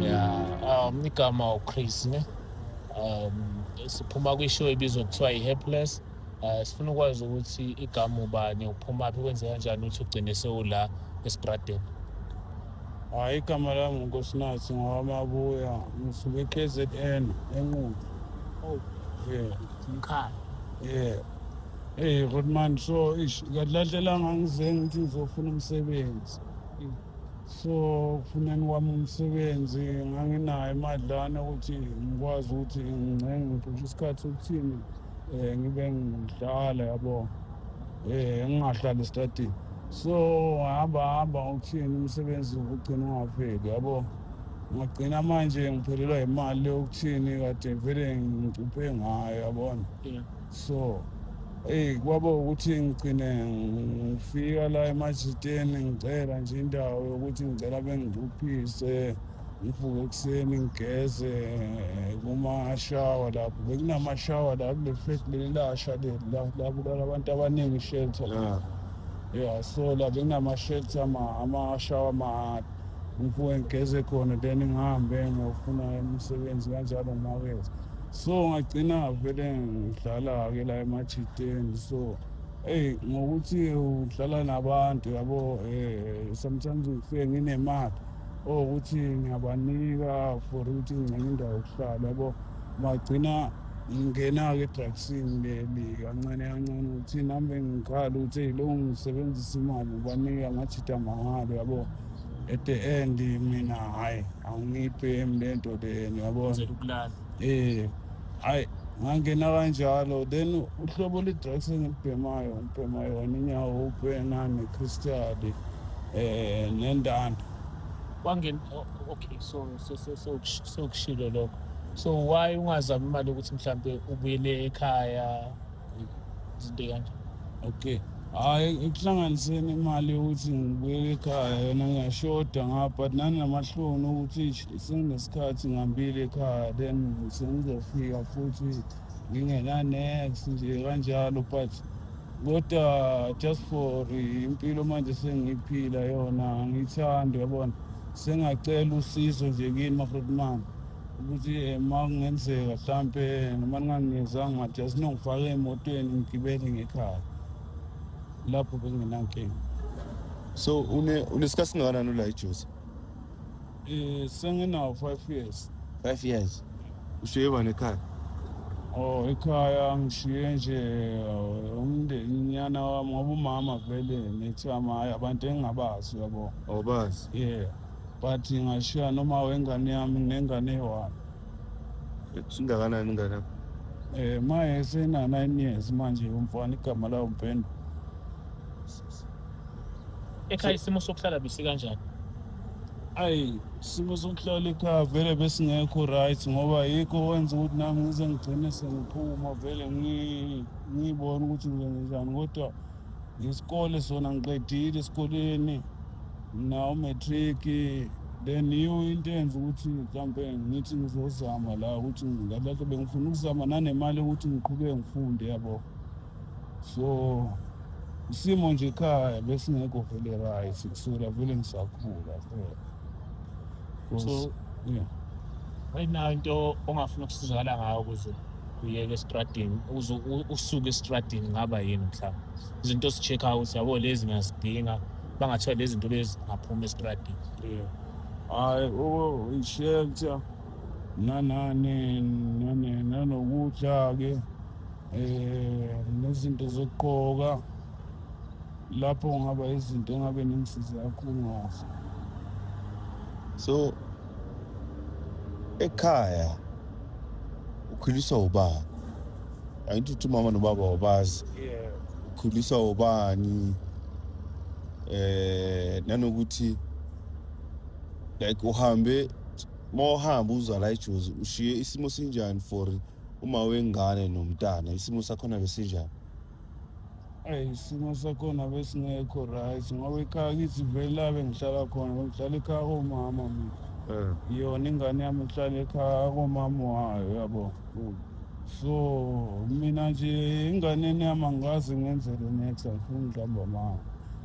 ya um igama uchris ne um siphuma kwishow ibizwa kuthiwa i-hapless um uh, sifuna ukwazi ukuthi igama ubani uphuma phi kwenze kanjani ukuthi ugcine sewula esitradeni hhayi igama lami ngunkosinathi ngowamabuya ngisuke e-k z n enqubo oh. yeah. mkhaya yeah Hey Rodman so ish ngadlalela ngangize ngithi ngizofuna umsebenzi. so kufuneni kwami umsebenzi nganginayo imadlana ukuthi ngikwazi ukuthi ngingcenge ngicishe isikhathi sokuthini um ngibe ngidlala yabo um ngingahlali esitadini so hamba hamba ukuthini umsebenzi ugcina ungaveli yabo ngagcina manje ngiphelelwa yimali yokuthini kade vele ngicuphe ngayo yabona so eyi kwaba ukuthi ngigcine ngifika la emajiteni ngicela nje indawo yokuthi ngicela bengicuphise ngivuke ekuseni ngigeze kumashawa lapho bekunamashawa la kule flat leli lasha leli la la kulala abantu abaningi shelter la ya so la bekunama-shelter ama- amashawa mahhala ngivuke ngigeze khona then ngihambe ngiyofuna imisebenzi kanjalo ngimakethe so ngagcina vele ngidlala-ke la emajiteni so eyi ngokuthi udlala nabantu yabo um sometimes ngifike nginemali owukuthi ngiyabanika for ukuthi ngingcenge indawo yokuhlala yabo magcina ngingena-ke edragsini leli kancane kancane ukuthi nami bengikhala ukuthi eyi lo ngisebenzisa imali ngibanika ngajida mahhala yabo at the end mina hayi angiphi emlento leni yabona eh hayi ngangena kanjalo then uhlobo le-drugs engilibhemayo ngibhema yona inyawo upena nekristali eh nendanda wangena oh, okay so sekushilo lokho so why ungazami imali ukuthi mhlawumbe ubuyele ekhaya izinto kanje okay hhayi ekuhlanganiseni imali yokuthi ngibuyele ekhaya yona ngiyashoda ngapha but nanamahloni ukuthi senginesikhathi ngihambile ekhaya then sengizofika futhi ngingenanex nje kanjalo but kodwa just for impilo manje sengiyiphila yona angiyithandi yabona sengacela usizo nje kini mafrotman ukuthi eh, uma kungenzeka mhlampe noma ningangizanga ngathi asinongifaka emotweni ngigibele ngekhaya lapho benginankinga so unesikhathi singakanani ula ijuice um eh, senginawo five years five years ushiye bani ekhaya o oh, ekhaya ngishiye nje eh, umndeni nyana wami ngoba umama vele nithi amaye abantu engingabazi yabo awubazi yeah but ngashiya noma wengane yami nengane eyi-one ingakanani ingane yakho Eh maye sena 9 years manje umfana igama lawo Mpendo. ekhaya isimo sokuhlala bisi kanjani Ayi simo sokuhlala ekhaya vele besingekho right ngoba yikho wenza ukuthi nami ngize ngigcine sengiphuma vele ngi- ngiyibone ukuthi ngizenzenjani kodwa Isikole sona ngiqedile esikoleni mna umatric then yiyo into enza ukuthi mhlawumpe ngithi ngizozama la ukuthi ngalahle bengifuna ukuzama nanemali ukuthi ngiqhubeke ngifunde yabo so isimo nje ekhaya besingekho vele right kusukela vele ngisakhula phela so yeah right now into ongafuna ukusizakala ngayo ukuze uyeke estradini uze usuke estradini ngaba yini mhlawumbe izinto si-check out yabo lezi ngiyazidinga bangathiwa lezi zinto lezi ngaphuma estradini hayi o ishelter nanane nanokudla-ke um nezinto zokugqoka lapho ngaba izinto engabe ningisize kakhulu ngazo so ekhaya ukhuliswa ubani angithi uthi umama nobaba wabazi ukhuliswa ubani eh nanokuthi like uhambe mawuhamba uzwa la ejozi ushiye isimo sinjani for uma wengane nomntana isimo sakhona besinjani Eyi isimo sakhona besingekho right ngoba ikhaya kithi vele la bengihlala khona bengihlala ekhaya komama mina Eh. yona ingane yami ihlala ekhaya komama wayo yabo so mina nje inganeni yami angikaze ngenzele next angifuni ngihamba mama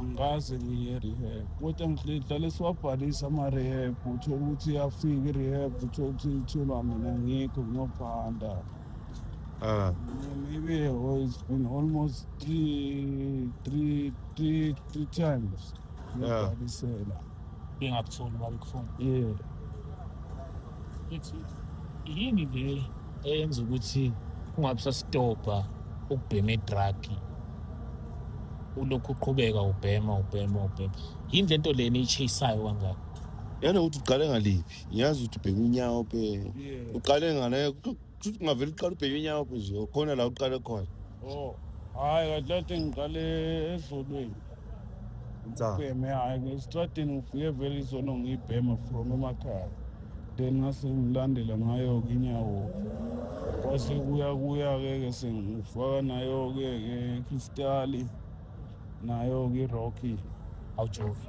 angikaze ngiye rehab kodwa ngidlale siwabhalisa ama-rehab uthole ukuthi iyafika i-rehab uthole ukuthi itholwa mina ngikho ngiyophanda Ah. Maybe oh, it's been almost three, three, three, three times. Yeah. Ngibhalisela. Bengakutholi babekufuna. Yeah. Ethi yini le eyenza ukuthi ungabe usasitobha ukubhema i-drug ulokhu uqhubeka ubhema ubhema ubhema yini le nto lena iyichayisayo kangaka yana ukuthi uqale ngaliphi ngiyazi ukuthi ubhema inyawo pe uqale ngane ungavele uqale ubhema inyawo pe nje khona la uqale khona oh hayi kahle kahle ngiqale ezolweni Nsa. Ubheme hayi ngesitradini ngifike vele izono ngiyibhema from emakhaya. Then ngase ngilandela ngayo ke inyawo. Kwase kuya kuya ke ke sengifaka nayo ke ke crystal nayo ke rocky. Awujoki.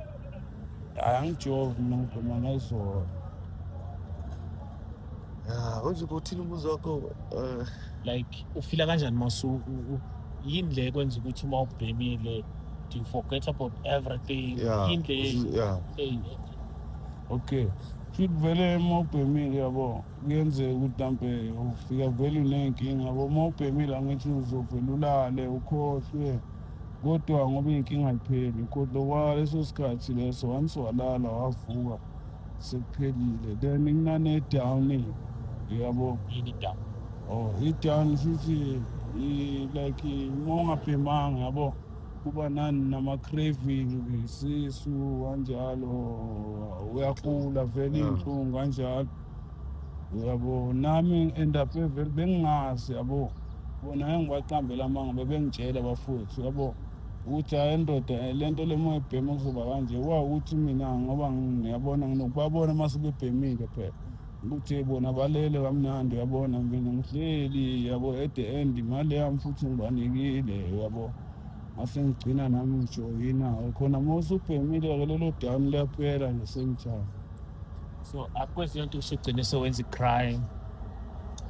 Hayi angijovi mina ngiduma ngezolo. Ya, unje bothini umuzi wakho? Uh, like ufila kanjani masuku? Yini le kwenza ukuthi uma ubhemile do you forget about everything? Yeah. Yini le? Yeah. Hey. Okay. Shit vele uma ubhemile yabo. kuyenzeka ukuthi mhlampe ufika vele uney'nkinga yabo uma ubhemile angithi uzovele ulale ukhohlwe kodwa ngoba iy'nkinga ay'pheli kodwa kwaleso sikhathi leso once walala wavuka sekuphelile then kunane-down yabo i-down oh i-down shuthi like uma ungabhemanga yabo kuba nani nama-craving isisu kanjalo uyagula vele iy'nhlungu kanjalo yabo nami end up vele bengingazi yabo bona engibaqambela amanga bebengitshela bafowethu yabo ukuthi hayi ndoda eh, le nto lemoya ebhema kuzoba kanje wa ukuthi mina ngoba ngiyabona nginokubabona uma sebebhemile phela ukuthi bona balele kamnandi uyabona mina ngihleli yabo at the end imali yami futhi ngibanikile yabo ngase ngigcina nami ngijoyina khona uma usubhemile-ke lelo dani liyaphela ngesengichama so akwenzi lento usugcine sewenza i-crime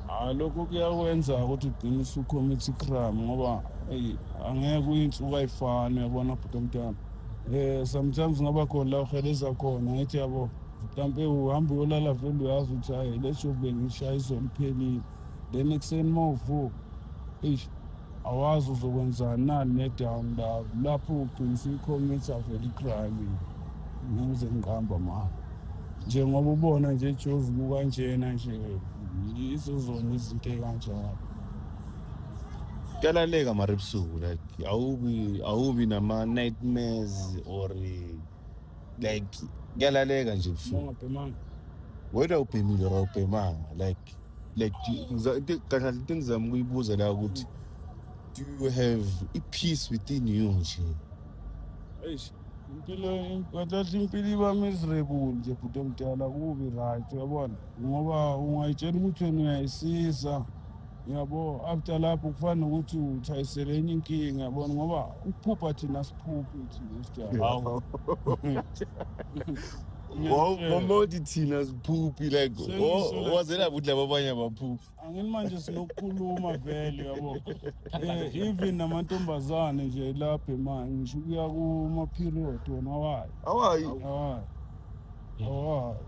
hayi lokho kuyakwenza ukuthi ugcine usucommit i-crime ngoba eyi angeke uyinsuku ayifani uyabona bhuti omntana um sometimes ngaba khona la uheleza khona ngithi yabo mhlampe uhambe uyolala vele uyazi ukuthi hayi lesho bengishaye izolo iphelile then ekuseni uma uvuka eish awazi uzokwenzani nani nedown love lapho uqinisa ikhomethi avele igrime ngize ngiqamba ma njengoba ubona nje jozi kukanjena nje yizo zona izinto ey'kanjalo kuyalaleka mara ebusuku like awubi awubi nama-nightmares or like kuyalaleka nje ebusuku wedwa ubhemile or awubhemanga like like kanjani into engizama ukuyibuza la ukuthi do you have i-peace within you nje eish impilo kadahle impilo iba miserable nje bhuti omdala kubi right uyabona ngoba ungayitshela ukuthi wena uyayisiza yabo after lapho kufana nokuthi uthayisele enye inkinga yabona ngoba ukuphupha thina siphuphi thina sijala wawuthi thina ziphuphi like wazela ukuthi laba abanye abaphuphi angini manje sinokukhuluma vele yabo eh, even namantombazane nje lapha manje ngisho ukuya kuma-period wona awayi awayi awayi awayi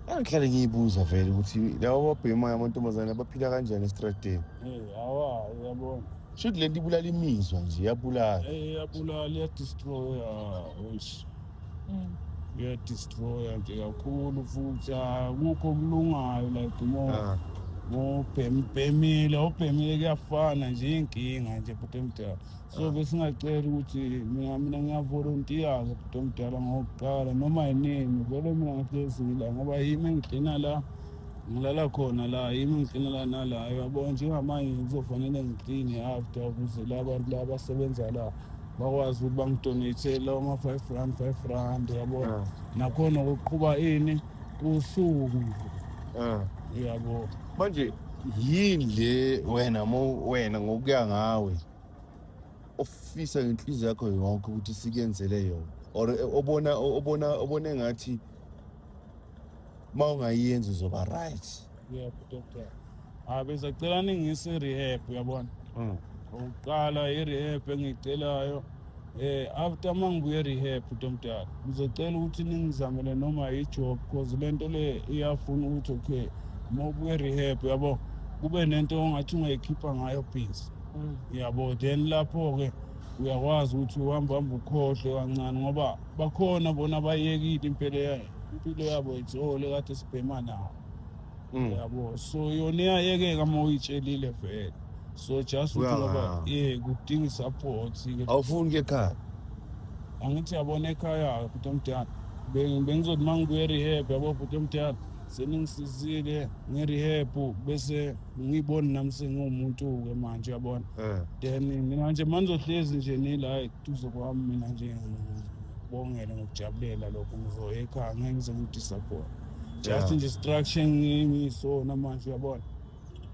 angihlale ngiyibuza vele ukuthi laba babhemayo amantombazane abaphila kanjani esitradeni eh, awayi yabona shuthi le nto ibulala imizwa nje iyabulala eh, iyabulala iyadestroya uyadistroya nje kakhulu futhi akukho okulungayo like mo ah. mobhemibhemile obhemile kuyafana nje iy'nkinga nje bhuti omdala so ah. besingacela ukuthi mina mina ngiyavolontiyaza bhuti omdala ngokuqala noma yinini vele mina ngihlezile ngoba yimi engigcina la ngilala khona la yimi ngigcina la nala yabona njengamanje ngizofanele ngigcine after ukuze la bantu la basebenza la bakwazi ukuthi bangidonate lawo ma-five rand five rand yabona mm. nakhona kuqhuba ini usuku mm. yabo manje yini le wena mo wena ngokuya ngawe ofisa ngenhliziyo yakho yonke ukuthi sikenzele yona or obona obona obona engathi uma ungayenzi uzoba right yebo doctor ah bese cela ningise rehab uyabona mm. ukuqala i-rehab engiyicelayo eh after mangibuye rehab utomdala ngizocela ukuthi ningizamele noma i-job because le nto le iyafuna ukuthi okay uma ubuye rehab yabo kube nento ongathi ungayikhipha ngayo busy mm. yabo then lapho-ke uyakwazi ukuthi uhamba hamba ukhohlwe kancane ngoba bakhona bona bayekile impilo yayo impilo yabo ijole kade sibhema nawo mm. yabo so yona iyayekeka uma uyitshelile vele so just ukuthi ngoba ye kudinga i-support awufuni ke ekhaya angithi yabona ekhaya bhuti omdala bengizothi uma ngibuye rehab yabo bhuti omdala seningisizile ngerehebhu bese ngiyiboni nami sengiwumuntu-ke manje yabona eh. then mina manje manizohlezi nje nila eduze kwami mina nje ngibongele ngokujabulela lokho ngizoya ekhaya ngeke ngize ngidisappoint just nje structure ngisona manje uyabona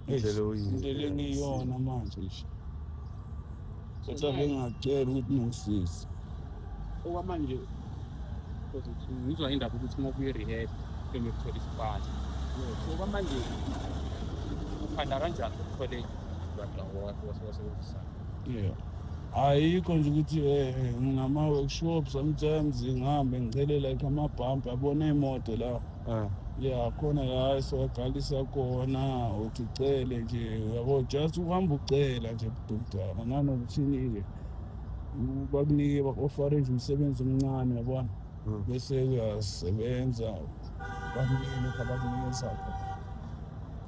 indlela oyiyo indlela engiyona manje nje kodwa bengacela ukuthi ngisise okwamanje ngizwa indaba ukuthi uma ubuye rehab kumele uthole isipali so kwamanje uphanda kanjani uthole wasebenzisana yeah ayikho nje ukuthi um ngama-workshops sometimes ngihambe ngicelela ikho amabhampi abona iy'moto la Ah. ya khona la siwagcwalisa kona uthi ucele nje uyabo just uhamba ucela nje budumdala nanokuthini-ke bakunike baku-ofare nje umsebenzi omncane yabona Mm. bese uyasebenza bakunike lokhu abakunikeza khona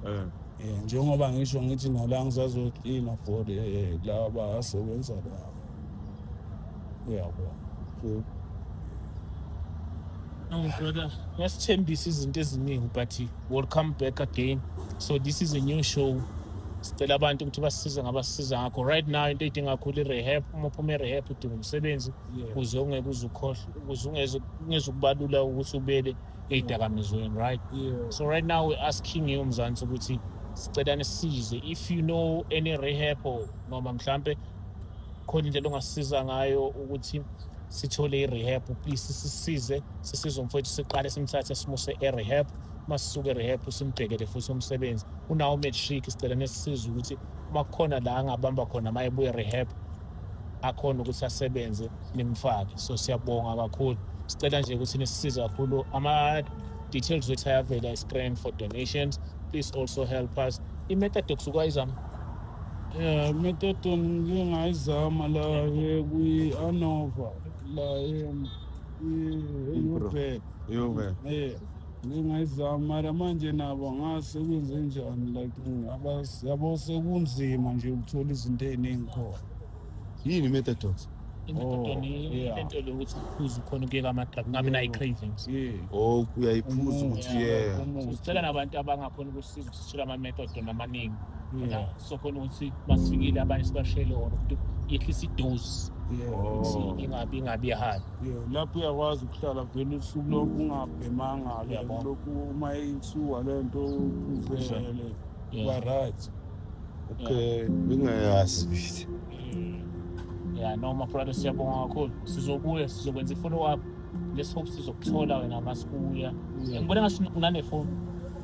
Eh. um njengoba ngisho ngithi nala ngisazoklina for eh, laba asebenza laba uyabo so Oh, brother, ngasithembisa izinto eziningi but we'll come back again so this is a new show sicela abantu ukuthi basisize ngabasisiza ngakho right now into edinga kakhulu i-rehab uma uphuma i-rehab udinga umsebenzi Yeah. kuze ungeke uze ukhohlwe kuze ungeze ungeze ukubalula ukuthi ubele ey'dakamizweni right yeah so right now we're asking you mzansi ukuthi sicela nisize if you know any rehab or noma mhlampe khona indlela ongasisiza ngayo ukuthi sithole i-rehab please sisize sisize umfowethu siqale simthathe simuse e-rehab uma sisuke e-rehab simbhekele futhi umsebenzi unawo matric sicela nesisiza ukuthi uma kukhona la angabamba khona uma ebuye rehab akhona ukuthi asebenze nimfake so siyabonga kakhulu sicela nje ukuthi nisisize kakhulu ama-details wethu ayavela e-screen for donations please also help us i-metadox ukwayizama Yeah, metodo ngingayizama la kwi-anova la eyuvele Yove. yeah ngingayizama mara manje nabo ngase kwenze njani like abas- yabo sekunzima nje ukuthola izinto ey'ningi khona Yini metadox? Imethod Oh, ni yeah. into lokuthi uphuze ukhona ukuyeka amadrug ngabe nayi cravings yeah Oh, uyayiphuza ukuthi yeah. Umuntu. Sicela nabantu abangakhona ukusiza sithola ama-method amaningi Yeah. sokhona ukuthi basifikile abanye sibashele wona ukuthi yehlisa idozi Yeah. ukuthi Oh. ingabi ingabi high Yeah, lapho uyakwazi ukuhlala vele usuku lonke ungabhemanga ke Yabo. lokhu uma isuka le nto uvele Yeah. uba right Okay, bengayazi bithi. ya noma brother siyabonga kakhulu sizobuya sizokwenza i-follow up let's hope sizokuthola wena masikuya ngibona ngathi unanefoni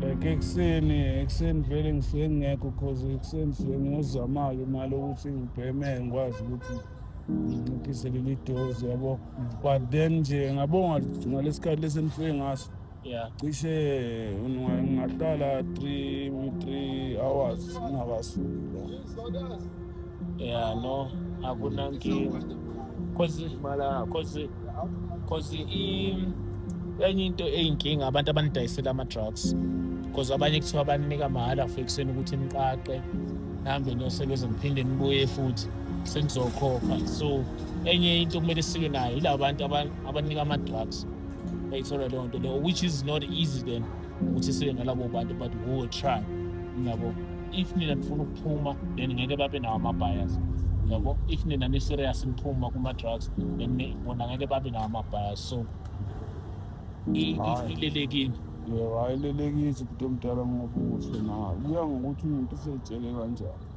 like ekuseni ekuseni vele ngisuke ngingekho cause ekuseni ngisuke ngiyozamala imali ukuthi ngibheme ngikwazi ukuthi nginciphise leli dozi yabo but then nje ngabonga ngalesikhathi lesi enifike ngaso yeah cishe ngingahlala three three hours ngingakasuki Yeah, no, akunankinga. Cause cause cause i enye into eyinkinga abantu abanidayisela ama drugs. Cause abanye kuthiwa banika mahhala for ekuseni ukuthi niqaqe nihambe niyosebenza niphinde nibuye futhi senizokhokha. So enye into kumele sike nayo yilabo bantu aban- abanika ama drugs. Bayithola leyo nto leyo which is not easy then. ukuthi sibe ngalabo bantu but we will try ngiyabo if nina nifuna ukuphuma then ngeke babe nawo ama-bias yabo if nina ni-serious niphuma kuma-drugs then bona ngeke babe nawo ama-bias so ilelekini yebo ayilelekisi kude omdala ngokuhle nayo kuya ngokuthi umuntu usetshele kanjani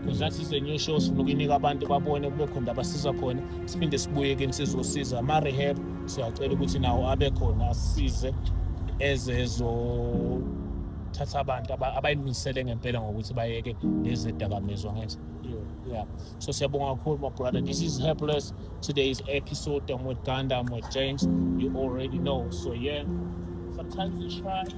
because that is a new show sifuna ukuyinika abantu babone kube khona abasiza khona siphinde sibuye ke nisizosiza ama-rehab siyacela ukuthi nawo abe khona asize ezezothatha abantu abayimisele ngempela ngokuthi bayeke lezi dakamizwa ngenza yeah so siyabonga kakhulu my brother this is helpless today's episode i'm with ganda i'm with james you already know so yeah sometimes you try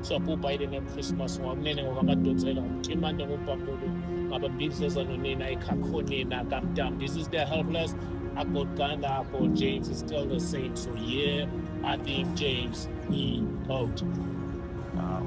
siyabhubha yile ngemchristmas ngokunene ngokamadotsela ngomtimande ngobhambulu ngabambindleza nonina ekhakhonina kamtam this is the helpless I got Ghana, I got James, it's still the same. So yeah, I think James he out. Wow.